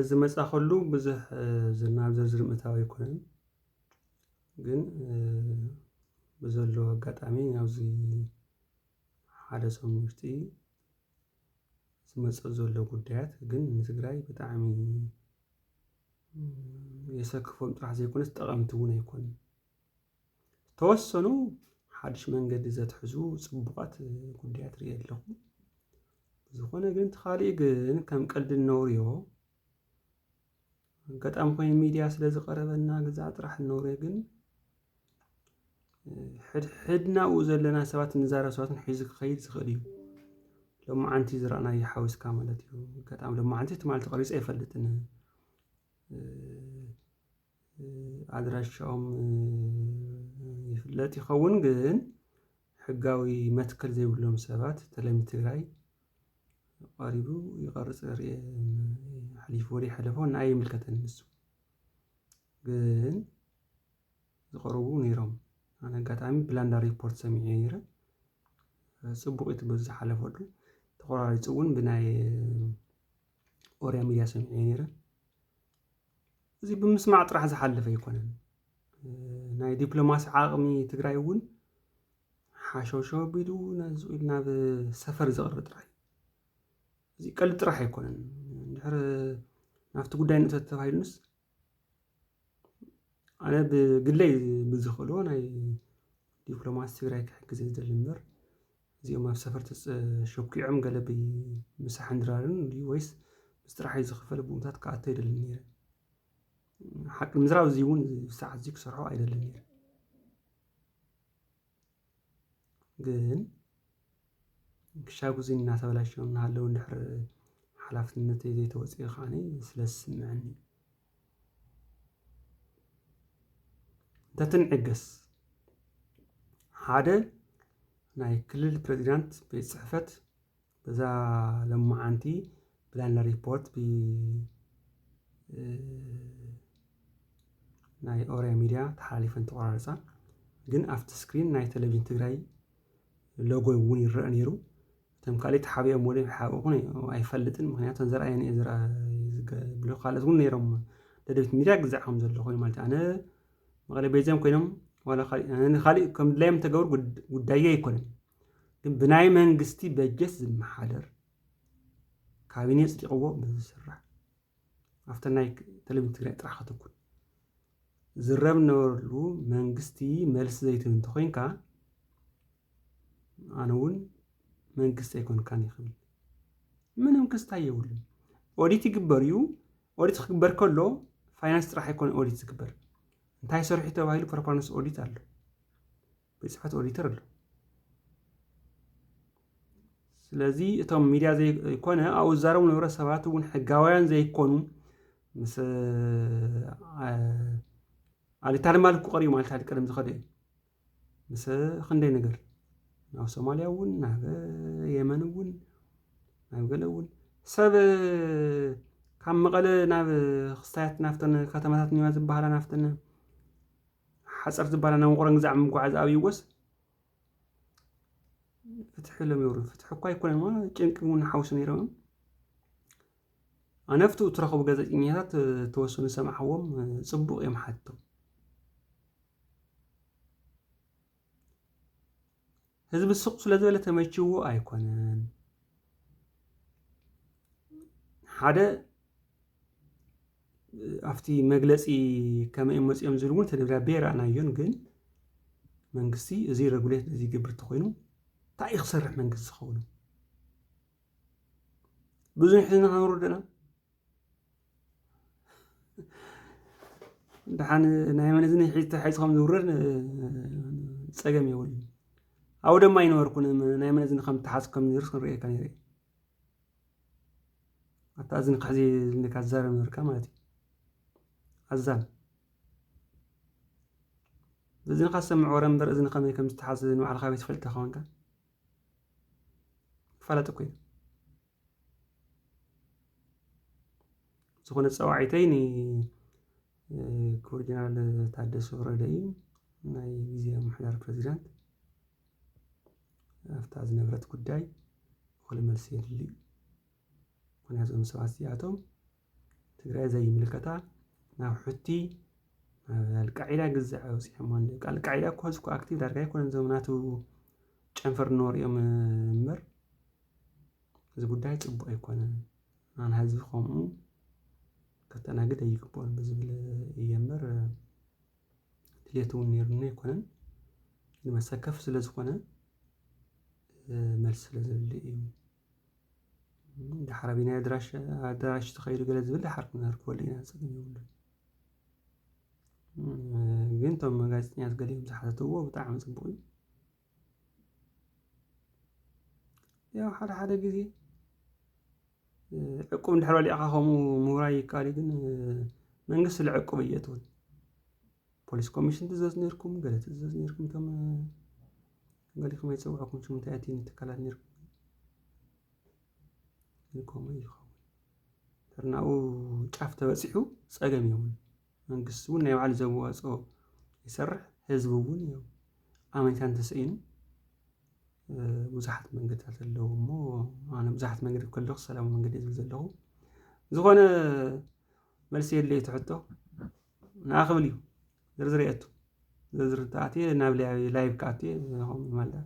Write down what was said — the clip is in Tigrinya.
ዝመጻ ከሉ ብዙሕ ዝናብ ዘዝርም እታው ኣይኮነን ግን ብዘሎ ኣጋጣሚ ኣብዚ ሓደ ሰሙን ውሽጢ ዝመጸ ዘሎ ጉዳያት ግን ንትግራይ ብጣዕሚ የሰክፎም ጥራሕ ዘይኮነስ ጠቐምቲ እውን ኣይኮኑን። ተወሰኑ ሓድሽ መንገዲ ዘትሕዙ ጽቡቓት ጉዳያት ርእየ ኣለኹ። ዝኾነ ግን እቲ ካልእ ግን ከም ቀልዲ እነውርዮ ኣጋጣሚ ኮይኑ ሚድያ ስለ ዝቐረበና ገዛ ጥራሕ እነውርዮ ግን ሕድሕድናኡ ዘለና ሰባት ንዛረብ ሰባትን ሒዙ ክኸይድ ዝኽእል እዩ ሎማዓንቲ ዝረኣናዮ ሓዊስካ ማለት እዩ ኣጋጣሚ ሎማዓንቲ ትማል ተቐሪፀ ኣይፈልጥን ኣድራሻኦም ይፍለጥ ይኸውን ግን ሕጋዊ መትከል ዘይብሎም ሰባት ተለሚ ትግራይ ቐሪቡ ይቐርፅ ርእየ ሓሊፉ ወሬ ሓለፎ ንኣይ ኣይምልከተን ንሱ ግን ዝቐርቡ ነይሮም ኣነ ኣጋጣሚ ብላንዳ ሪፖርት ሰሚዐ ነይረ ፅቡቕ ኢዩ እቲ በዚ ዝሓለፈሉ ተቖራሪፁ እውን ብናይ ኦሪያ ሚድያ ሰሚዐ ነይረ። እዚ ብምስማዕ ጥራሕ ዝሓልፍ ኣይኮነን። ናይ ዲፕሎማሲ ዓቕሚ ትግራይ እውን ሓሸውሸ ኣቢሉ ነዚ ናብ ሰፈር ዘቕርብ ጥራይ እዚ ቀልዲ ጥራሕ ኣይኮነን ድሕሪ ናብቲ ጉዳይ ንእቶ ተባሂሉንስ ኣነ ብግለይ ብዝኽእሎ ናይ ዲፕሎማሲ ትግራይ ክሕግዝ ዝደሊ እምበር እዚኦም ኣብ ሰፈር ተሾኪዖም ገለ ብምሳሕን ድራርን ድዩ ወይስ ምስ ጥራሕይ ዝኽፈል ቡኡምታት ክኣቱ ኣይደልን ነይረ። ሓቂ ምዝራብ እዚ እውን ሰዓት እዚ ክሰርሖ ኣይደልን ነይረ። ግን ክሻብ እዚ እናተበላሸው እናሃለው እንድሕር ሓላፍነተይ ዘይተወፅኦ ከዓኒ ስለ ዝስምዐኒ እንተትንዕገስ ሓደ ናይ ክልል ፕሬዚዳንት ቤት ፅሕፈት በዛ ለማዓንቲ ብላና ሪፖርት ናይ ኦሪያ ሚዲያ ተሓላሊፈን ተቆራረፃ ግን ኣብቲ ስክሪን ናይ ቴሌቪዥን ትግራይ ሎጎ እውን ይረአ ነይሩ እቶም ካልእ ተሓቢኦም ወደይ ክሓብኡኹን ኣይፈልጥን ምክንያቱ ዘርኣየን እየ ዝብሉ ካልኦት እውን ነይሮም ደደቢት ሚድያ ግዛዕ ከም ዘሎ ኮይኑ ማለት ኣነ መቐለ ቤዚኦም ኮይኖም ዋላ ካልእ ከም ድላዮም ተገብሩ ጉዳየ ኣይኮነን ግን ብናይ መንግስቲ በጀት ዝመሓደር ካቢኔ ፅዲቕዎ ብዝስራሕ ኣብተ ናይ ቴሌቪዥን ትግራይ ጥራሕ ከተኩን ዝረብ ነበረሉ መንግስቲ መልሲ ዘይትህብ እንተኮይንካ ኣነ እውን መንግስቲ ኣይኮንካን እዩ ክብል ምንም ክስታይ የብሉን። ኦዲት ይግበር እዩ። ኦዲት ክግበር ከሎ ፋይናንስ ጥራሕ ኣይኮነ ኦዲት ዝግበር እንታይ ሰርሑ ተባሂሉ ፐርፎርማንስ ኦዲት ኣሎ፣ ቤት ፅሕፈት ኦዲተር ኣሎ። ስለዚ እቶም ሚዲያ ዘይኮነ ኣብኡ ዝዛረቡ ነበረ ሰባት እውን ሕጋውያን ዘይኮኑ ምስ ኣሊታልማል ክቀርዩ ማለት ቀደም ዝኸደ እዩ ምሰ ክንደይ ነገር ናብ ሶማልያ እውን ናብ የመን እውን ናብ ገለ እውን ሰብ ካብ መቐለ ናብ ክስታያት ናብተን ከተማታት ኒዋ ዝበሃላ ናብተን ሓፀር ዝበሃላ ናብ ውቕሮ ግዛዕ ምጓዓዝ ኣብይዎስ ፍትሒ ኢሎም ይብሉ ፍትሒ እኳ ኣይኮነን ጭንቂ እውን ሓውሲ ነይሮም ኣነፍቱ እትረኽቡ ገዘጭኛታት ተወሰኑ ሰማዕዎም ጽቡቕ እዮም ሓቶ ህዝቢ ስቕ ስለ ዝበለ ተመችዎ ኣይኮነን ሓደ ኣብቲ መግለፂ ከመይ መፅኦም ዝብል እውን ተደብዳቤ ረኣናዮን ግን መንግስቲ እዚ ረጉሌት እዚ ግብር ተኮይኑ እንታይ ክሰርሕ መንግስቲ ዝኸውን ብዙሕ ህዝቢ ከንውርድ ኢና ድሓን ናይ መን እዝኒ ተሓይፅኩም ዝውረድ ፀገም የብሉን ኣብኡ ድማ ኣይነበርኩን ናይ መን እዝኒ ከም ተሓዝ ከም ዝርስ ክንርእየካ ነይረ ኣታ እዝኒ ክሕዚ ዝብለካ ዝዛረብ ነበርካ ማለት እዩ ኣዛን እዝንካ ዝሰምዕ ወረ እምበር እዝኒ ከመይ ከም ዝተሓዝ ንባዕልካ ቤት ፈልጥካ ኮንካ ክፋላጥ እኮ እዩ ዝኾነ ፀዋዒተይ ንክቡር ጀነራል ታደሰ ወረደ እዩ ናይ ግዜያዊ ምምሕዳር ፕረዚዳንት ኣብታ ዝነበረት ጉዳይ እኹል መልሲ የድሊ እዩ ምክንያቱ እዞም ሰባት እዚኣቶም ትግራይ ዘይምልከታ ናብ ሑቲ ናብ ኣልቃዒዳ ግዛዕ ኣውፂኦሞ ኣለዉ ኣልቃዒዳ እኮ ሕዚ እኮ ኣክቲቭ ዳርጋ ኣይኮነን እዞም ናቱ ጨንፈር ኖር እዮም እምበር እዚ ጉዳይ ፅቡቅ ኣይኮነን ኣን ህዝቢ ከምኡ ከተናግድ ኣይግብኦን ብዝብል እየ እምበር ድሌት እውን ነይሩኒ ኣይኮነን ንመሰከፍ ስለ ዝኾነ መልሲ ስለ ዘድሊ እዩ ድሓር ኣበየናይ ኣድራሻ ኣዳራሽ ተኸይዱ ገለ ዝብል ድሓር ክንህርፈሉ ኢና ጸገም የብሉን። ግን እቶም ጋዜጠኛታት ገሊኦም ዝሓተትዎ ብጣዕሚ ጽቡቕ እዩ። ያው ሓደ ሓደ ግዜ ዕቁብ እንድሕር በሊዕኻ ከምኡ ምውራይ ይከኣል እዩ። ግን መንግስቲ ስለ ዕቁብ እየእትወን ፖሊስ ኮሚሽን ትእዘዝ ኔርኩም ገለ ትእዘዝ ኔርኩም ከም ገሊኹም ኣይጸውዕኩምን ሽሙ እንታይ ኣቲ ንትካላት ነርኩም ግን ከምኡ እዩ ይኸውን ተርናኡ ጫፍ ተበጺሑ ጸገም የብሉ መንግስቲ እውን ናይ ባዕሉ ዘዋጽኦ ይሰርሕ ህዝቢ እውን እዩ ኣመንታ እንተሰኢኑ ብዙሓት መንገድታት ኣለዉ እሞ ኣነ ብዙሓት መንገዲ ከለኹ ሰላማዊ መንገዲ ዝብል ዘለኹ ዝኾነ መልሲ የድለዩ ትሕቶ ንኣ ክብል እዩ ዝርዝር የእቱ ዝርዝር እንተኣትየ ናብ ላይቭ ክኣቱ እየ ንዕኹም ይማልእ።